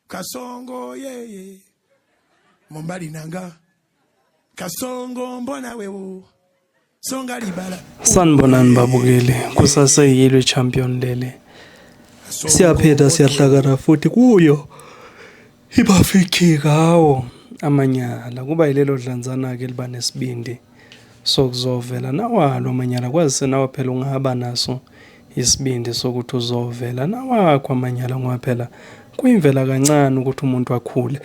kasongo yeye mombali nanga kasongo mbona wewo songa libala sanibonani babukeli kusaseyilwe champion lele siyaphetha siyahlakana futhi kuyo ibafikhi kawo amanyala kuba yilelo dlanzana-ke liba nesibindi sokuzovela nawalo amanyala kwazise nawe phela ungaba naso isibindi sokuthi uzovela nawakho amanyala ngoba phela kuyimvela kancane ukuthi umuntu akhule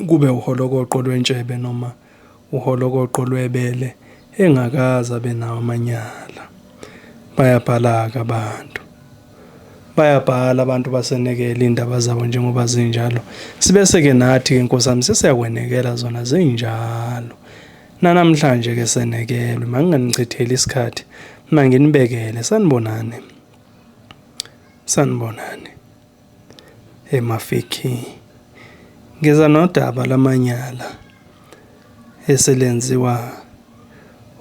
kube uholokoqo lwentshebe noma uholokoqo lwebele engakaze abe nawo amanyala bayabhalaka abantu bayabhala abantu basenekela indaba zabo njengoba zinjalo sibese ke nathi ke nkosami sesiyakwenekela zona zinjalo Nanamhlanje ke senekelwe manginganichitheli isikhathi manginibekele sanibonani sanibonani emafiki ngeza nodaba lamanyala eselenziwa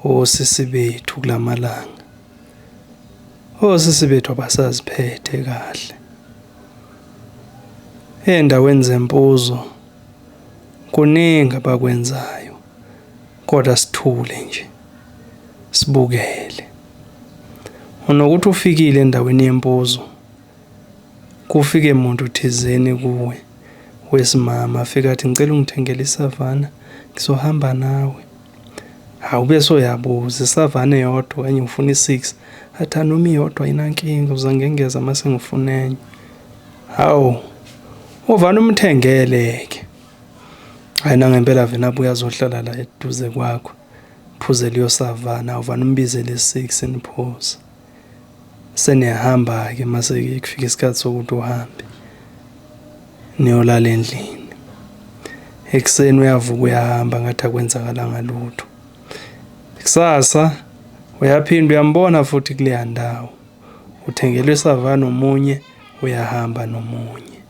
osisi bethu kulamalanga osisi bethu abasaziphethe kahle endaweni zempuzo kuningi abakwenzayo kodwa sithule nje sibukele unokuthi ufikile endaweni yempuzo kufike muntu thizeni kuwe wesimama afika athi ngicela ungithengele isavana ngizohamba nawe Hawu bese uyabuza isavane yodwa okanye ngifuna i-six athi anoma iyodwa ayinankinga uze ngengeza uma sengifuna enye hawu uvane umthengele-ke hhayi nangempela vele abuye azohlala la eduze kwakho phuzele uyosavana uvane umbizele i-six niphuze seniyahamba-ke mase-ke kufika isikhathi sokuthi uhambe niyolala endlini ekuseni uyavuka uyahamba ngathi akwenzakalanga lutho kusasa uyaphinda uyambona futhi kuleya ndawo uthengelwe isava nomunye uyahamba nomunye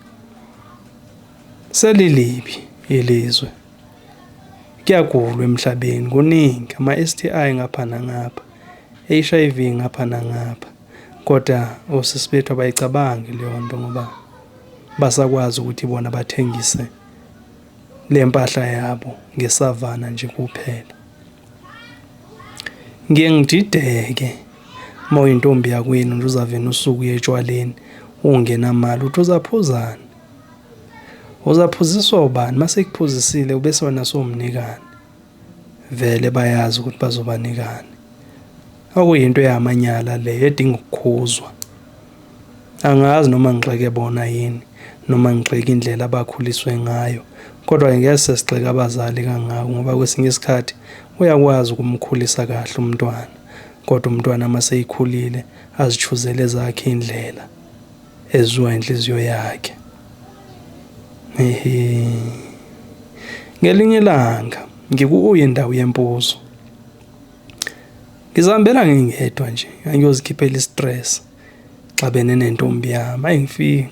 selilibi ilizwe Kuyagulwa emhlabeni kuningi ama-STI ngapha nangapha, HIV ngapha nangapha kodwa osisi bethu abayicabangi leyo nto ngoba basakwazi ukuthi bona bathengise le mpahla yabo ngesavana nje kuphela. Ngiye ngidideke uma uyintombi yakwenu nje uzavena usuku uye etshwaleni ungenamali uthi uzaphuzani Uzaphuziswa ubani masekuphuzisile ubese wena somnikani. Vele bayazi ukuthi bazobanikani. Okuyinto eyamanyala le edinga ukukhuzwa. Angazi noma ngixeke bona yini noma ngixeke indlela abakhuliswe ngayo. Kodwa ngeke sesigxeka abazali kangako ngoba kwesinye isikhathi uyakwazi ukumkhulisa kahle umntwana. Kodwa umntwana maseyikhulile azichuzele zakhe indlela. ezwa inhliziyo yakhe. Ehe. Ngelinye ilanga ngikuye ndawo yempuzo. Ngizihambela ngingedwa nje, ngangiyozikhiphela i-stress. Xabene nentombi yami, ayi ngifike.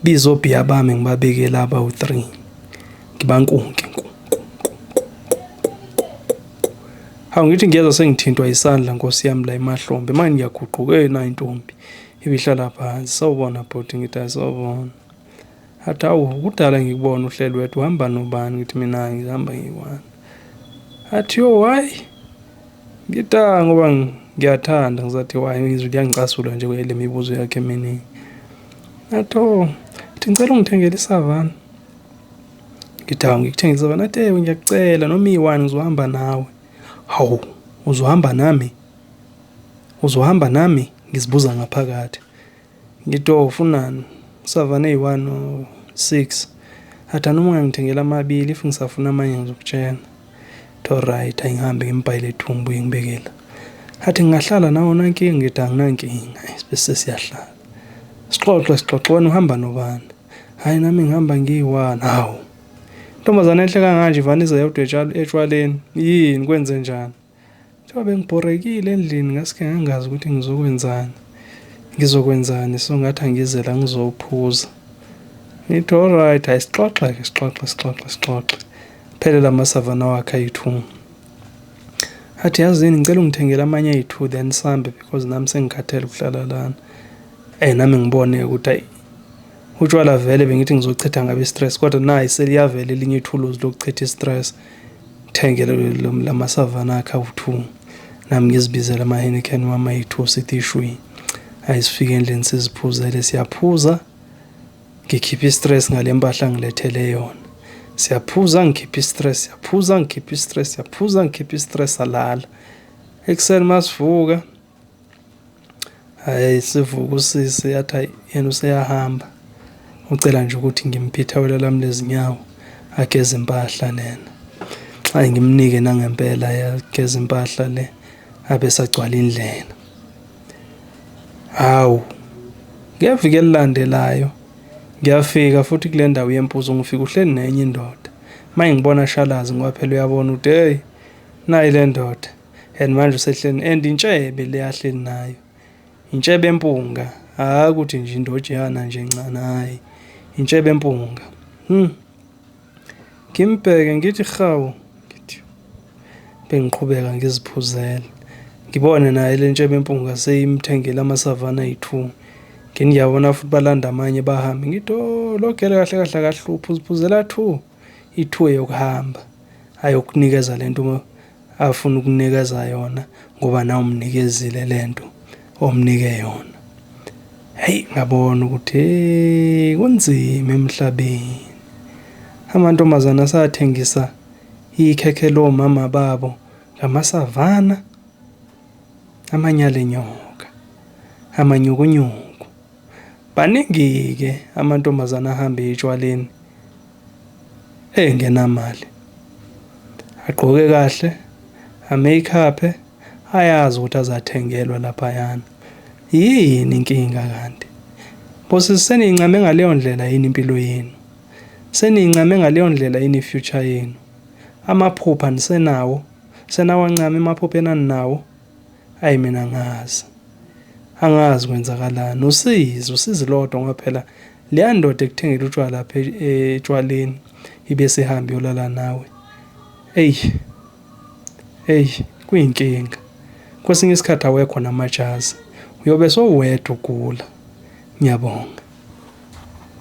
Biza obhiya bami ngibabeke laba u-3 ngibankunke hawu ngithi ngiyeza sengithintwa isandla nkosi yami la emahlombe manje ngiyaguquka ey nayo intombi ibihlala phansi sawubona bhuti ngithi asawubona athi awu kudala ngikubona uhleli wedwa uhamba nobani ngithi mina ngihamba ngiyi-one athi yo hhayi Ngita ngoba ngiyathanda ngizathi why izwi liyangicasula nje kwele mibuzo yakhe eminingi. Atho ngithi ngicela ungithengele isavana. Ngita ngikuthengele isavana athi ewe ngiyakucela noma iwani ngizohamba nawe. Hawu uzohamba nami? Uzohamba nami? Ngizibuza ngaphakathi. Ngito funan savane yi one or six athi anoma ungangithengela amabili if ngisafuna amanye ngizokutshena to alright angihambe ngimbhayile ethumbu ngibekela athi ngingahlala nawo nankinga ngithi anginankinga bese siyahlala sixoxe sixoxe wena uhamba nobani hayi nami ngihamba ngiyi-one hawu ntombazane enhle kanganje ivanize yodwa etshwaleni yini kwenze njani Njengoba bengibhorekile endlini ngasike ngangazi ukuthi ngizokwenzani. Ngizokwenzani so ngathi angize la ngizophuza. Ngithi alright hayi sixoxe ke sixoxe sixoxe sixoxe. Phele lama savana wakhe ayi-2. Athi yazini ngicela ungithengele amanye ayi-2 then sambe because nami sengikhathele ukuhlala lana. Eh nami ngibone ukuthi ayi utshwala vele bengithi ngizochitha ngabe stress kodwa nayi seliyavela elinye ithuluzi lokuchitha stress. ngithengele lamasavana akhe awu-two nami ngizibizela ama-henican wami ayi-two sithi ishwi ayi sifike endlini siziphuzele siyaphuza ngikhiphe i-stress ngale mpahla ngilethele yona siyaphuza ngikhiphe i-stress siyaphuza ngikhiphe i-stress siyaphuza ngikhiphe i-stress alala ekuseni masivuka Hhayi sivuka usisi athi hhayi yena useyahamba ucela nje ukuthi ngimphe ithawula lami lezinyawo ageze impahla lena ayi ngimnike nangempela yageza impahla le abe sagcwala indlela hawu ngeviki elilandelayo ngiyafika futhi kule ndawo yempuzo ngifika uhleli nenye indoda uma ngibona ashalazi ngoba phela uyabona ukuthi heyi nayi le ndoda and manje usehleni and intshebe le ahleli nayo intshebe empunga hayi ukuthi nje indojana nje ncane hayi intshebe empunga hmm ngimbheke ngithi hawu ngithi bengiqhubeka ngiziphuzela ngibone naye le ntshebe empunga seyimthengela amasavana ayi-two ngini ngiyabona futhi balanda amanye bahambe ngithi o oh, lo gele kahle kahle akahluphi uziphuzela two ithuwe yokuhamba ayokunikeza lento afuna ukunikeza yona ngoba na umnikezile lento omnike yona hey ngabona ukuthi hey kunzima emhlabeni amantombazana asathengisa ikhekhe lo mama babo ngamasavana amanyale nyoka amanyukunyuku Maningi-ke amantombazane ahambe etshwaleni engenamali. Agqoke kahle, ameyikhape, ayazi ukuthi azathengelwa laphayana. Yini inkinga kanti? Bosisi seniyincame ngaleyo ndlela yini impilo yenu? Seniyincame ngaleyo ndlela yini i-future yenu? Amaphupha nisenawo? Senawancama emaphupha enaninawo? Ayi mina angazi. Angazi kwenzakalani. Usizi, usizi lodwa ngoba phela leya ndoda ekuthengela utshwala lapha e-, etshwaleni ibe sihambi yolala nawe. Ey. Ey, kuyinkinga. Kwesinye isikhathi awekho namajazi. Uyobe sowedwa ugula. Ngiyabonga.